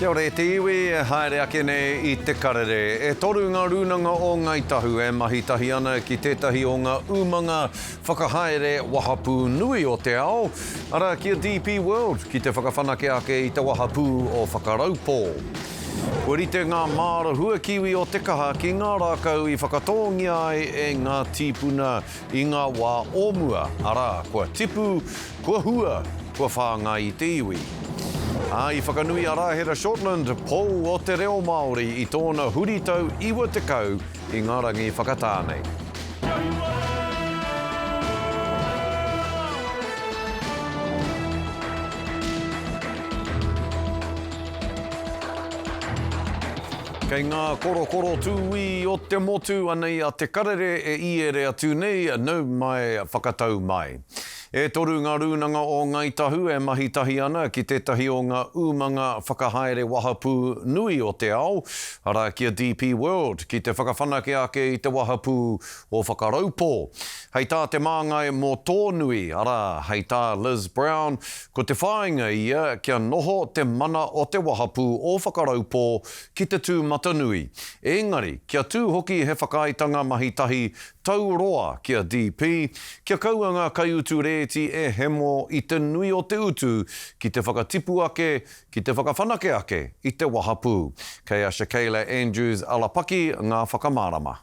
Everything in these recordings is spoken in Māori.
Kia ora e te iwi, e haere ake nei i te karere. E toru ngā rūnanga o Ngāi Tahu e mahi tahi ana ki tētahi o ngā umanga whakahaere wahapū nui o te ao, arā ki a DP World, ki te whakawhanake ake i te wahapū o Whakaraupō. Kua rite ngā māra huakiwi o Te Kaha ki ngā rākau i whakatōngia ai e ngā tīpuna I ngā wā o mua, arā, kua tipu, kua hua, kua whāngai i te iwi. Ā, i whakanui a Rāhera Shortland, Pou o te Reo Māori, i tōna huritau 90 i ngā rangi whakatā nei. Kei ngā korokoro tūī o te motu anei a Te Karere e iere atu nei, nau mai, whakatau mai. E toru ngā rūnanga o Ngāi Tahu e mahi tahi ana ki tētahi o ngā umanga whakahaere wahapū nui o te ao, arā ki a DP World, ki te whakawhanake ake i te wahapū o Whakaraupō. Hei tā Te Māngai mō tō nui, arā, hei tā Liz Brown, Ko te whāinga ia kia noho te mana o te wahapū o Whakaraupō ki te tūmatanui, ēngari kia tū hoki he whakaaetanga mahi tahi tau roa ki a DP, kia kaua ngā kaiutu rēti e hemo i te nui o te utu ki te whakatipu ake, ki te whakawhanake ake i te wahapū. Kei a Shakayla Andrews Alapaki ngā whakamārama.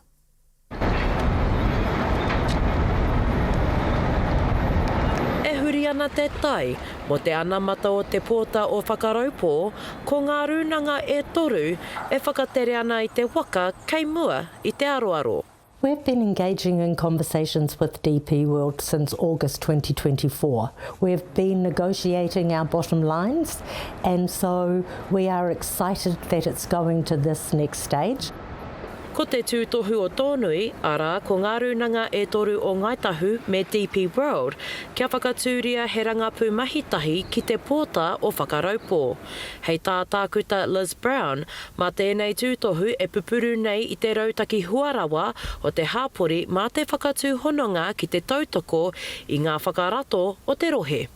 E huri ana te tai mō te anamata o te pōta o Whakaraupō, ko ngā rūnanga e toru e whakatere ana i te waka kei mua i te aroaro. We've been engaging in conversations with DP World since August 2024. We've been negotiating our bottom lines and so we are excited that it's going to this next stage. Ko te tūtohu o Tōnui, arā, ko ngā rūnanga e toru o Ngāi Tahu me DP World, kia whakatūria he rangapū mahi tahi ki te pōta o Whakaraupō. Hei tā Tākuta Liz Brown, mā tēnei tūtohu e pupuru nei i te rautaki hua rawa o te hāpori mā te whakatū hononga ki te tautoko i ngā whakarato o te rohe.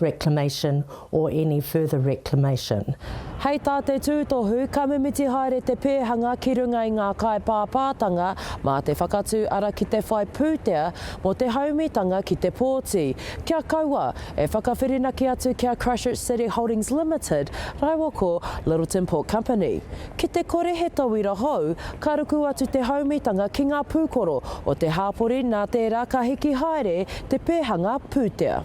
reclamation or any further reclamation. Hei tā te tūtohu, ka mimiti haere te pēhanga ki runga i ngā kaipāpātanga mā te whakatū ara ki te whai pūtea mō te haumitanga ki te pōti. Kia kaua, e whakawhirinaki atu ki a Christchurch City Holdings Limited rāua ko Lyttelton Port Company. Ki te kore he tauira hou, ka ruku atu te haumitanga ki ngā pūkoro o te hāpori nā tērā ka hiki haere te pēhanga pūtea.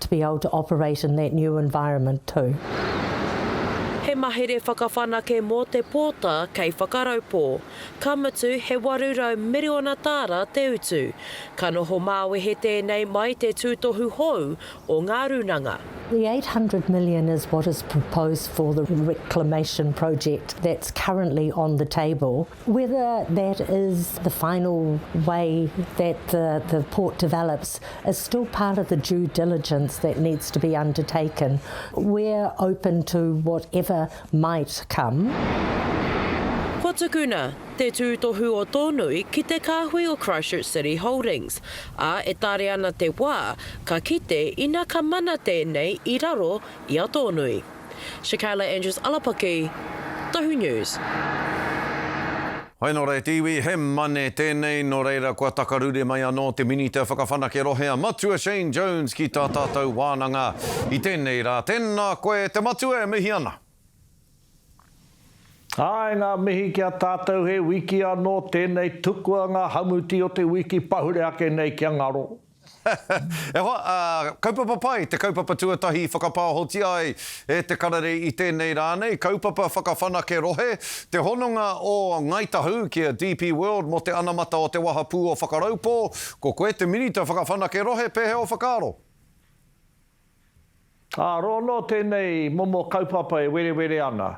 to be able to operate in that new environment too. He mahere whakawhanake mō te pōta kei Whakaraupō. Ka mutu, he 800 miriona tāra te utu. Ka noho māwehe tēnei mai te tūtohu hou o ngā rūnanga. The 800 million is what is proposed for the reclamation project that's currently on the table. Whether that is the final way that the the port develops is still part of the due diligence that needs to be undertaken. We're open to whatever might come. Ko tukuna te tūtohu o Tōnui ki te kāhui o Christchurch City Holdings, ā, e tare ana te wā ka kite ina ka mana tēnei i raro i a Tōnui. Shakayla Andrews Alapaki, Tohu News. Hai nō reira te iwi, he mane tēnei, nō reira kua takarure mai anō te Minita Whakawhanake Rohe a Matua Shane Jones ki tā tātou wānanga i tēnei rā. Tēnā koe te Matua e mihi ana. Āe ngā mihi ki a tātou he wiki anō tēnei tukua ngā hamuti o te wiki pahure ake nei kia ngaro. E hoa, ā, kaupapa pai te kaupapa tuatahi i whakapāohotia ai e te karere i tēnei rā nei, kaupapa whakawhanake rohe, te hononga o Ngāi Tahu ki a DP World mō te anamata o te wahapū o Whakaraupō, ko koe te Minita Whakawhanake Rohe, pēhea ō whakaaro? Ā, roa noa tēnei momo kaupapa e werewere ana.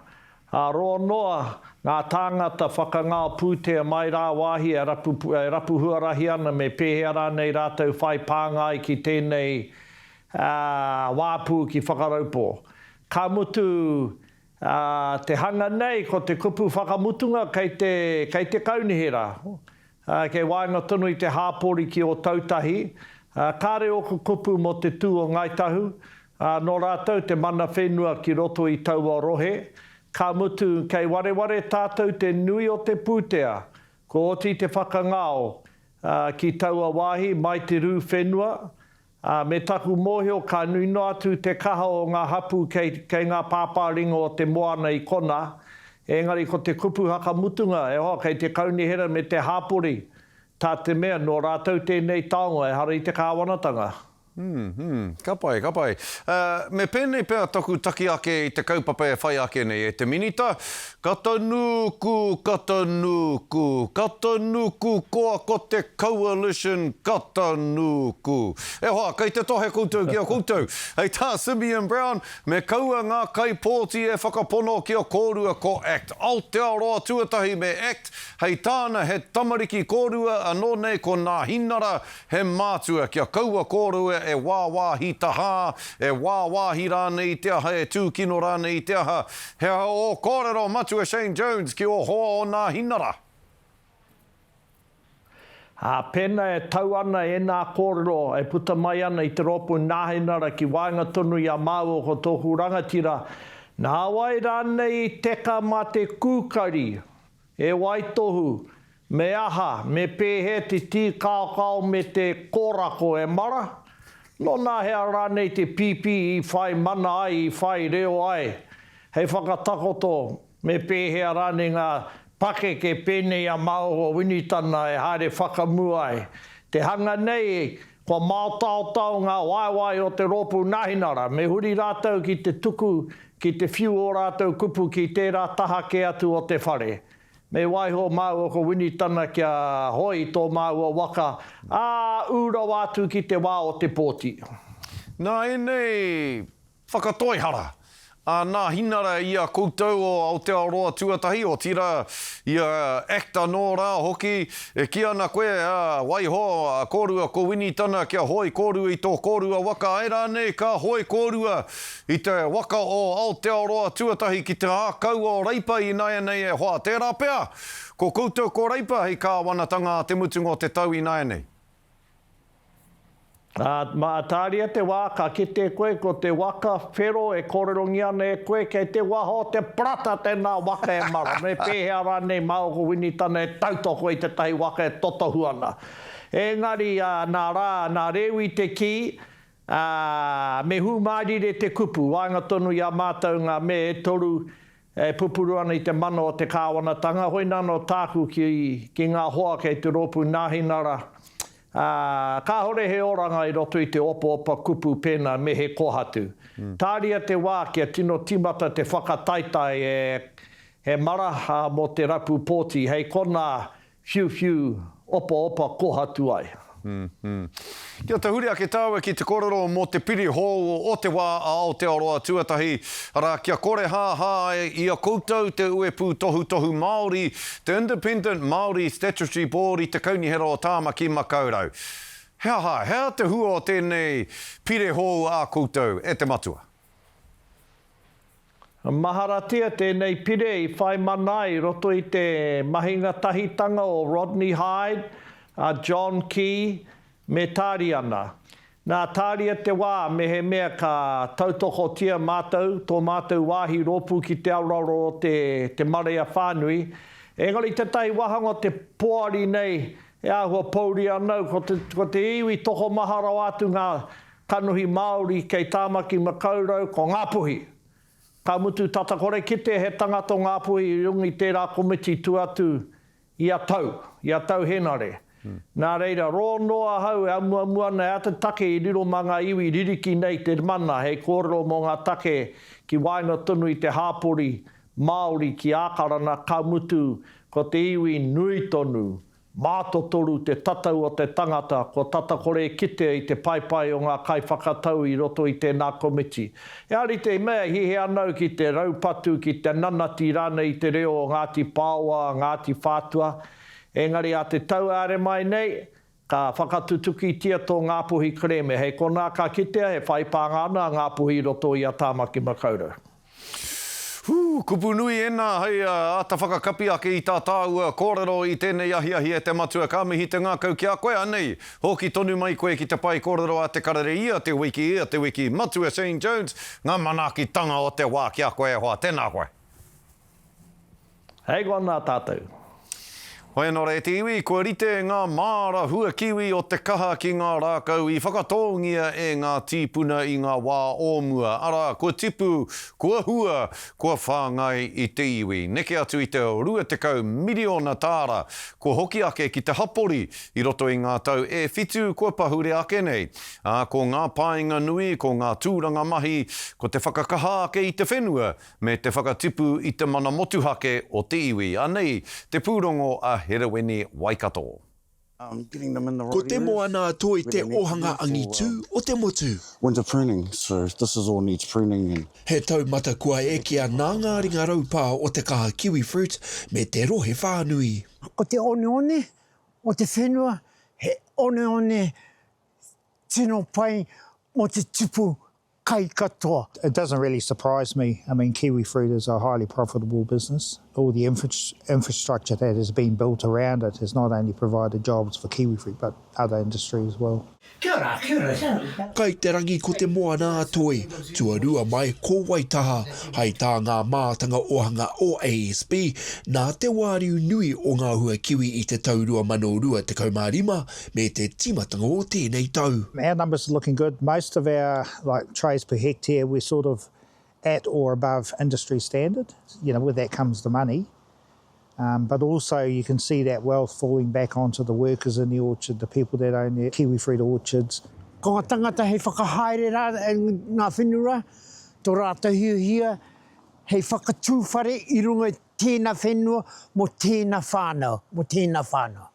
Ā, roa noa ngā tāngata whakangao pūtea mai rāwāhi e rapu, e rapu huarahi ana me pēhea rānei rātou whai pānga ai ki tēnei, ā, wāpu ki Whakaraupō. Ka mutu, ā, te hanga nei ko te kupu whakamutunga kei te, kei te kaunihera, Ā, kei waenga tonu i te hāpori ki Ōtautahi, ā, kāre ōku kupu mō te tū o Ngāi Tahu, ā, nō rātou te mana whenua ki roto i taua rohe, ka mutu, kei wareware tātou te nui o te pūtea, kua oti te whakangao, ā, ki taua wāhi mai te rū whenua, Ā, me taku mōhio ka nui noa atu te kaha o ngā hapū kei, kei ngā pāpā ringa o te moana i konā, engari ko te kupu hakamutunga, e hoa, kei te kaunihera me te hāpori, tā te mea, nō rātou tēnei taonga, ehara i te kāwanatanga. Hum, hum. Ka pai, ka pai. Ā, me pēnei pea taku taki ake i te kaupapa e whai ake nei, e te Minita, Ka tonu ku, ka tonu ku, ka tonu ku koa ko te Coalition, ka tonu ku. E hoa, kei te tohe koutou ki a koutou. Hei tā Simeon Brown, me kaua ngā kaipōti e whakapono kia kōrua ko act Aotearoa tuatahi me act hei tāna he tamariki kōrua anō nei ko Nāhinara He mātua kia kaua kōrua e wāwāhi tahā, e wāwāhi rānei i te aha, e tūkino rānei i te aha. He aha ō kōrero, Matua Shane Jones, ki ō hoa o Nāhinara? Ā, pēnā e tau ana ēnā kōrero e puta mai ana i te rōpū Nāhinara ki waenga tonu i a māua ko tōku rangatira, nā wai rānei i teka mā te kūkari? He waitohu, me aha, me pēhea te tīkaokao me te kōrako e mara? Nō nā hea rānei te pīpī i whai mana ai, i whai reo ai? Hei whakatakoto, me pēhea rānei ngā pakeke pēnei a Maunga Winitana e haere whakamua ai? Te hanga nei Kua māotaotao ngā waewae o te rōpū Nahinara, me huri rātou ki te tuku ki te whiu ō rātou kupu ki tērā taha kē atu o te whare. Me waiho māua ko Winitana kia hoi tō māua waka, ā, ū rawa atu ki te wā o te pōti. Nā ēnei Whakatoihara, ā, nāhinara i a koutou o Aotearoa tuatahi, otirā, i a act anō rā hoki, e kī ana koe, ā, waiho, a kōrua ko Winitana kia hoe kōrua i tō kōrua waka, āe rānei, ka hoe kōrua i te waka o Aotearoa tuatahi ki te ākau o Reipa ināianei e hoa, tērā pea, ko koutou ko Reipa hei kāwanatanga ā te mutunga o te tau ināianei. Ā, mā Ataria te wā ka kite koe ko te waka whero e kōrerongia ana e koe, kei te waha o te parata tēnā waka e mara, me pēhea rānei mā ōku winitana e tautoko i tētahi waka e totohu ana. Engari, ā, nā Rā, nā Rewi te kī, Ā, me hūmārire te kupu, waenga tonu i a mātou ngā me e toru, E pupuru ana i te mana o te kāwanatanga, hoina anō tāku ki, ki ngā hoa kei te rōpū Nāhinara, ā, kāore he oranga i roto i te opaopa kupu pēnā me he kōhatu. Tāria te wā kia tino tīmata te whakataetae e, he mara, ā, mō te rapu pōti, hei konā, Whiu whiu opa opa kohatu ai. Kia tahuri ake tāua ki te kōrero mō te piri hou o te wā a Aotearoa tuatahi, arā, kia korehāhā ai i a koutou te uepū tohutohu Māori, te Independent Māori Statutory Board i te Kaunihera o Tāmaki Makaurau. He aha, he aha te hua o tēnei pire hou ā koutou, e te Matua? Maharatia tēnei pire i whai mana i roto i te mahinga tahitanga o Rodney Hide, a John Key, me Tāriana. Nā Tāria te wā mehemea ka tautokotia mātou, tō mātou wāhi rōpū ki te aroaro o te te marea whānui, engari tētahi wāhanga o te poari nei e āhua pōuri ana au, ko te ko te iwi tokomaha rawa atu ngā Kanohi Māori kei Tāmaki Makaurau ko Ngāpuhi. Ka mutu tata kore kite he tangata o Ngāpuhi i runga i tērā komiti tua atu ia tau, ia tau Henare. Nā reira, rō noa ahau e amuamu ana e āta take i riro mā ngā iwi ririki nei te mana hei kōrero mō ngā take ki waenga tonu i te hāpori Māori ki Ākarana ka mutu ko te iwi nui tonu Mātotoru te tatau o te tangata kua tata kore e kitea i te paepae o ngā kaiwhakatau i roto i tēnā komiti. He ārite i mea he anau ki te raupatu, ki te nanati rānei i te reo o Ngāti Pāoa, Ngāti Whātua, engari ā te tau āre mai nei, ka whakatutukitia tō Ngāpuhi kerēme, hei konā ka kitea he whai pānga ana a Ngāpuhi i roto i a Tāmaki Makaurau. Whū! Kupu nui ēnā hei āta whakakapi ake i tā tāua kōrero i tēnei ahiahi e te Matua. Ka mihi te ngākau ki a koe, anei, hoki tonu mai koe ki te pae kōrero a Te Karere ia te wiki, ia te wiki. Matua Shane Jones, ngā manaakitanga o te wā ki a koe e hoa. Tēnā koe. Hei go ana tatou. Hoi anō rā te iwi, kua rite ngā māra hua kiwi o te kaha ki ngā rākau i whakatōngia e ngā tīpuna i ngā wā o mua, arā, kua tipu, kua hua, kua whāngai i te iwi. Neke atu i te 20 miriona tāra kua hoki ake ki te hapori i roto i ngā tau e whitu kua pahure ake nei, ā, ko ngā painga nui, ko ngā tūranga mahi, ko te whakakaha ake i te whenua, me te whakatipu i te mana motuhake o te iwi, anei te pūrongo a Hereweni Waikato. Ko te moana a Toi te ohanga angitu o te motu. He taumata kua ekea nā ngā ringa raupā o te kaha kiwifruit me te rohe whānui. Ko te oneone o te whenua he oneone tino pai mō te tipu kai katoa. It doesn't really surprise me, I mean kiwifruit is a highly profitable business, all the infrastructure that has been built around it has not only provided jobs for kiwifruit but other industry as well. Kia ora, kia ora, kia ora. Kai te rangi ko te moana a Toi, tuarua mai ko Waitaha, hai tā ngā mātanga ohanga o ASB, nā te wāriu nui o ngā hua kiwi i te tau 2025, me te tīmatanga o tēnei tau. Our numbers are looking good. Most of our like trays per hectare we're sort of at or above industry standard. You know, with that comes the money. Um, but also you can see that wealth falling back onto the workers in the orchard, the people that own the kiwi fruit orchards. Ko ngā tangata hei whakahaere rā, ngā whenua, tō rātou hiahia hei whakatū whare i runga i tēnā whenua mō tēnā whānau, mō tēnā whānau.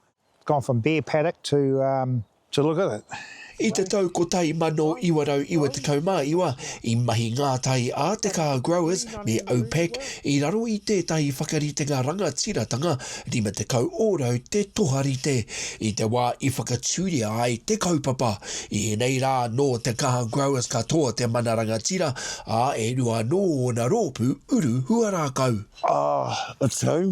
Gone from bear paddock to to look at it. I te tau 1999 i mahi ngā tai a te Car Growers me OPEC i raro i tētahi whakaritenga rangatiratanga 50 ōrau te toharite. I te wā i whakatūria ai te kaupapa, i ēnei rā nō te Car Growers katoa te mana rangatira, ā, e rua anō ōna rōpū uru huarākau. Ā, atu au,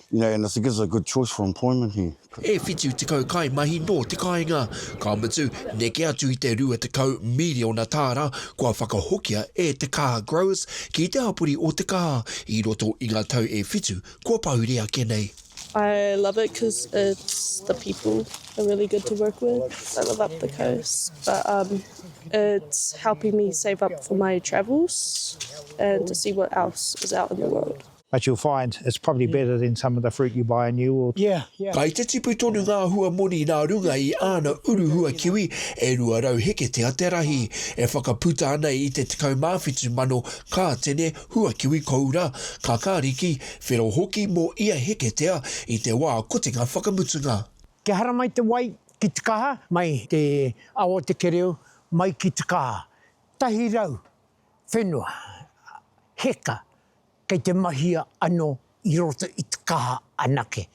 Yeah, and it gives a good choice for employment here. E whitu tekau kaimahi nō te kāinga, ka mutu, neke atu i te rua tekau miriona tāra kua whakahokia e te Kaha Growers ki te hapori o te kaha i roto i ngā tau e whitu kua pāuri ake nei. I love it cuz it's the people are really good to work with I live up the coast but um it's helping me save up for my travels and to see what else is out in the world. But you'll find it's probably better than some of the fruit you buy in New World. Yeah, yeah. Kai te tipu tonu ngā hua moni nā runga i āna uru hua kiwi e 200 heketea te rahi, e whakaputa ana i te 17,000 kātene hua kiwi koura, kakāriki, whero hoki mō ia heketea i te wā kotinga whakamutunga. Kia hara mai te wai ki te kaha. Mai te awa o te kereu mai ki te kaha. Tahi rau whenua heka Kei te mahia ano i roto i te kaha anake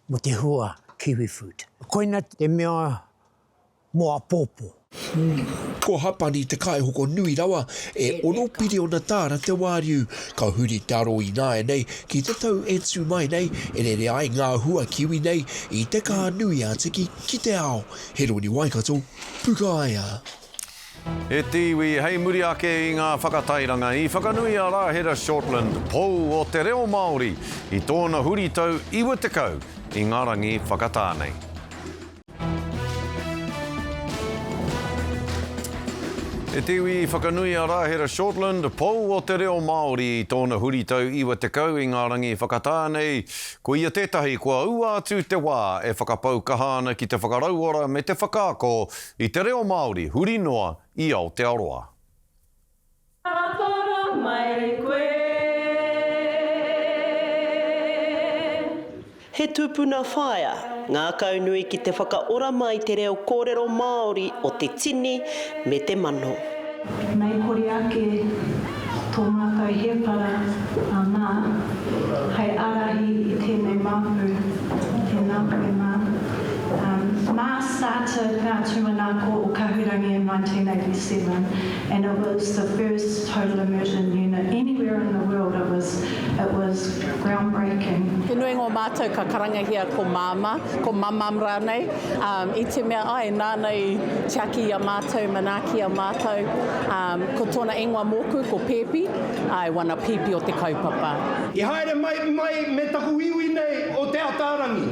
mo te hua kiwifood. Koina te mea mo apopo. Ko Hapani te kaihoko nui rawa, e ono piriona taara te wāriu. Ka huri te aro ināianei ki te tau e tū mai nei, e rere ai ngā hua kiwi nei i te kaha nui a Tiki ki te ao. Heroni Waikato, Pukaea. E te iwi, hei muri ake i ngā whakatairanga, i whakanui a Rahera Shortland pou o te reo Māori i tōna huritau 90 i ngā rangi whakatā nei. E te iwi, i whakanui a Rahera Shortland pou o te reo Māori i tōna huritau 90 i ngā rangi whakatā nei. Ko ia tētahi kua ua atu te wā e whakapau kaha ana ki te whakarauora me te whakaako I te reo Māori huri noa i Aotearoa. Ka toro mai koe. He tupuna whaea ngākaunui ki te whakaora mai te reo kōrero Māori o te tini me te mano. Mei kore ake tō mātou hēpara anā hei ārahi i tēnei māpu, tēnā koe mā. Mā Sata ngā tūmanako o Kahurangi in 1987 and it was the first total immersion unit anywhere in the world, it was it was ground breaking. He nui ngō mātou ka karangahia ko Māmā, ko Mamam rānei, i te mea, āe, nāna i tiaki i a mātou manaaki. Ki a mātou, ko tōna ingoa mōku ko Pēpi, I wana Pēpi o te kaupapa. I haere mai mai me taku iwi nei o Te Ataarangi.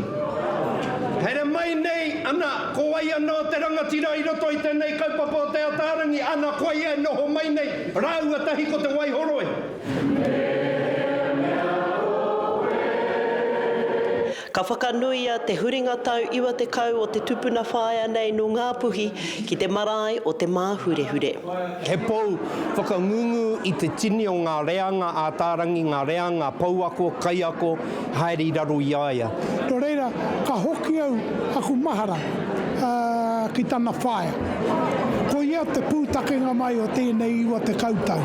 Haere mai nei, ana, ko wai ana o te rangatira i roto i tenei kaupapa o Te Ataarangi, ana, koa ia e noho mai nei, rāua tahi ko Te Waihoroi. He mea oe. Ka whakanuia te huringa tau 90 o te tupuna whaea nei nō Ngā Puhi ki te marae o Te Māhurehure. He pou whakangungu i te tini o ngā reanga ātārangi, ngā reanga pouako, kaiako, haere i raro i a ia. Nō reira, ka hoki au, aku mahara, ki tana whaea. Ko ia te pūtakenga mai o tēnei iwa tekau tau.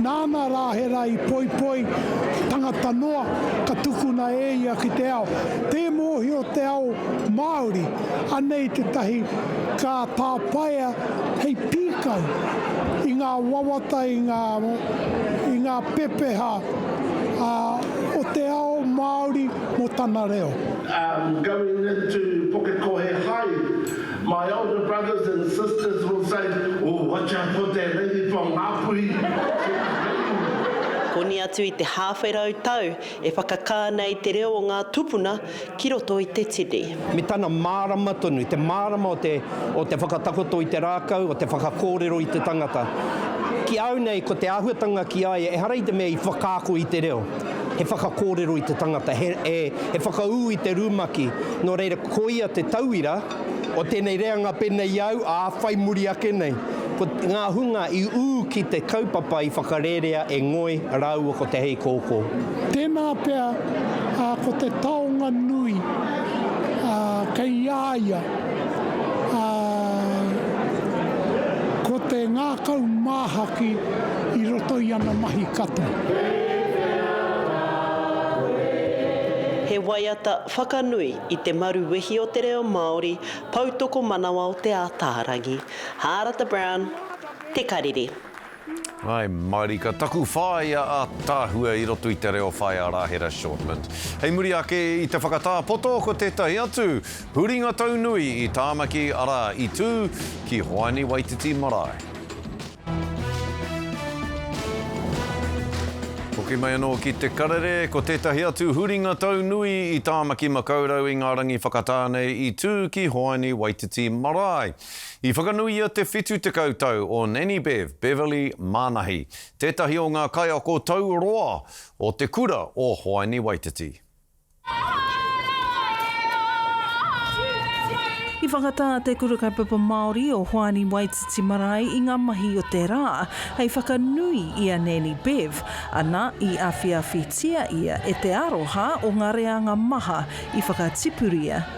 Nāna rā he rā i poipoi, tangata noa, ka tukuna e ia ki te ao, tē mōhio te ao Māori, anei tētahi ka tāpaea hei pīkau i ngā wawata, i ngā, i ngā pepeha o te ao Māori mō tana reo. Ā, Going into Pukekohe High. My older brothers and sisters will say, Ooh, watch out for that lady from Ngāpuhi, she's dangerous. Koni atu i te hāwhe rau tau e whakakā nei te reo o ngā tupuna ki roto i te tini. Me tana mārama tonu, te mārama o te, o te whakatakoto i te rākau, o te whakakōrero i te tangata. Ki au nei, ko te āhuatanga ki a ia, ehara i te mea i whakaako i te reo. he whakakōrero i te tangata, he, he, he whakaū i te rumaki. Nō reira, koia te tauira o tēnei reanga pēnei i a au, ā, whai muri ake nei. Ko ngā hunga i ū ki te kaupapa i whakarērea e Ngoi rāua ko Te Heikōkō. Tēnā pea, ā, ko te taonga nui, ā, kei a ia, ā, ko te ngākau māhaki. i roto i ana mahi katoa. He waiata whakanui i te maru wehi o te reo Māori, Poutokomanawa o Te Ātaarangi. Hārata Brown, Te Karere. Hai mārika taku whāea ātaahua i roto i te reo Whaea Rāhera Shortland. Hei muri ake i te whakatāpoto ko tētahi atu huringa taunui i Tāmaki arā i tū ki Hoani Waititi marae. Hoki mai anō ki Te Karere, ko tētahi atu huringa tau nui i Tāmaki Makaurau i ngā rangi whakatā nei i tū ki Hoani Waititi Marae. I whakanuia te 70 tau o Nanny Bev, Beverley Manahi, tētahi o ngā kaiako tau roa o te kura o Hoani Waititi. I whakatā te Kura Kaupapa Māori o Hoani Waititi Marae i ngā mahi o te rā hei whakanui i a Nanny Bev, ana, i awhiawhitia ia e te aroha o ngā reanga maha i whakatipuria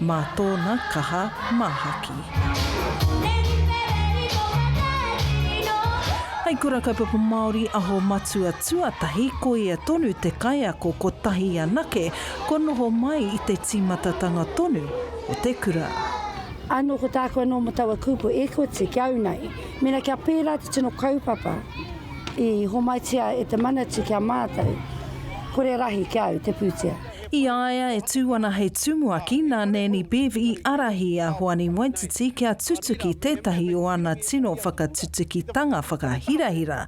Mā tōna kaha māhaki. Hei kura kaupapa Māori aho matua tuatahi, koia tonu te kaiako kotahi anake kua noho mai i te tīmatatanga tonu o te kura. Anō ko tāku anō mō taua kupu e koti ki au nei. Mēnā kia pērā te tino kaupapa i homaitia e te Manatū ki a mātou, kore rahi ki au te pūtea. I a ia e tū ana hei tumuaki, nā Nanny Bev i ārahi a Hoani Waititi kia tutuki tētahi o ana tino whakatutukitanga whakahirahira,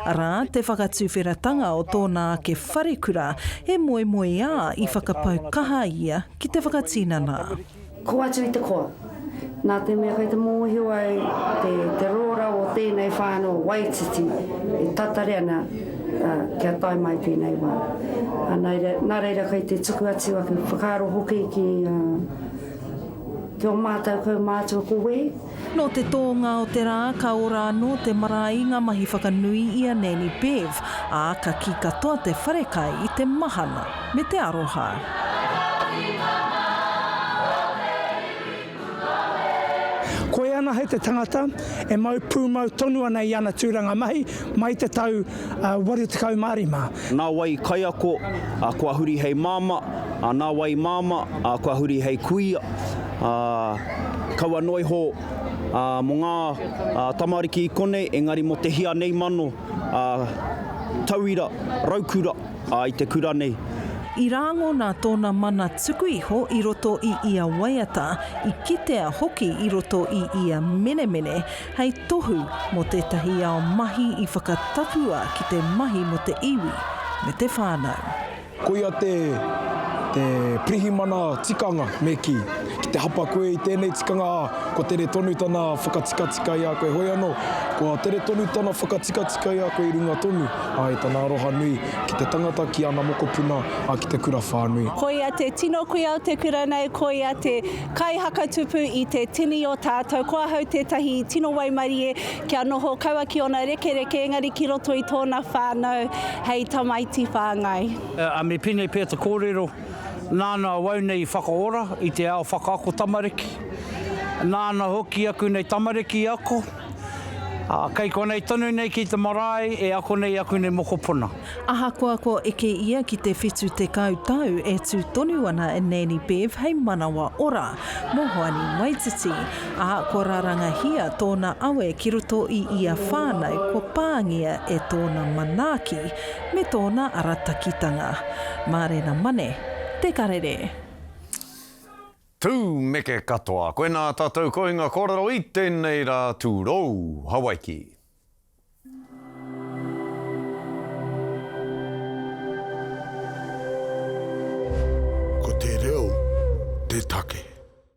arā, te whakatuwheratanga o tōna ake wharekura e moemoeā i whakapau kaha ia ki te whakatinana. Kō atu i te koa. Nā te mea kei te mōhio ai te rōra o tēnei whānau waititi e tatari ana kia tae mai tēnei wā. Nā reira kei te tuku atu ake whakaaro hoki ki ō mātou kaumātua ko Wēhi. Nō te tōnga o te rā ka ora anō te marae i ngā mahi whakanui i a Nanny Bev, ā, ka kī katoa te wharekai i te mahana me te aroha. Koia anahe te tangata e mau pūmau tonu ana i ana tūranga mahi mai i te tau 85. Nā wai i kaiako, kua huri hei māmā, nā wai i māmā, kua huri hei kuia. ā, kaua noa iho ā, mō ngā ā, tamariki i konei, engari mō te hia nei mano ā, tauira, raukura ā, i te kura nei. I rāngona tōna mana tuku iho i roto i ia waiata, i kitea hoki i roto i ia menemene, hei tohu mō tētahi ao mahi i whakatapua ki te mahi mō te iwi me te whānau. Koia te, te pirihimana tikanga, me kī. Ki te hapa koe i tēnei tikanga, ā, kua tere tonu tana whakatikatika i a koe, heoi anō, kua tere tonu tana whakatikatika i a koe i runga tonu, ā, i tana aroha nui ki te tangata, ki ana mokopuna, ā, ki te kura whānui. Koia te tino kuia o te kura nei, koia te kaihakatupu i te tini o tātou, ko ahau tētahi tino waimarie Kia noho kaua ki ōna rekereke, engari ki roto i tōna whānau hei tamaiti whāngai. A me pēnei pea te kōrero, nāna awau nei i whakaora i te ao whakaako tamariki, nāna hoki aku nei tamariki i ako, ā, kei konei tonu nei ki te marae e ako nei aku nei mokopuna. Ahakoa kua eke ia ki te 70 tau, e tū tonu ana e Nanny Bev hei manawa ora mō Hoani Waititi, ā, kua rarangahia tōna awe ki roto i ia whānau kua pāngia e tōna manaaki me tōna aratakitanga. Mārena Mane, Te Karere. Tū neke katoa koe nā tātou kohinga kōrero i tēnei rā tūrou. Hawaiki. Ko te reo te take.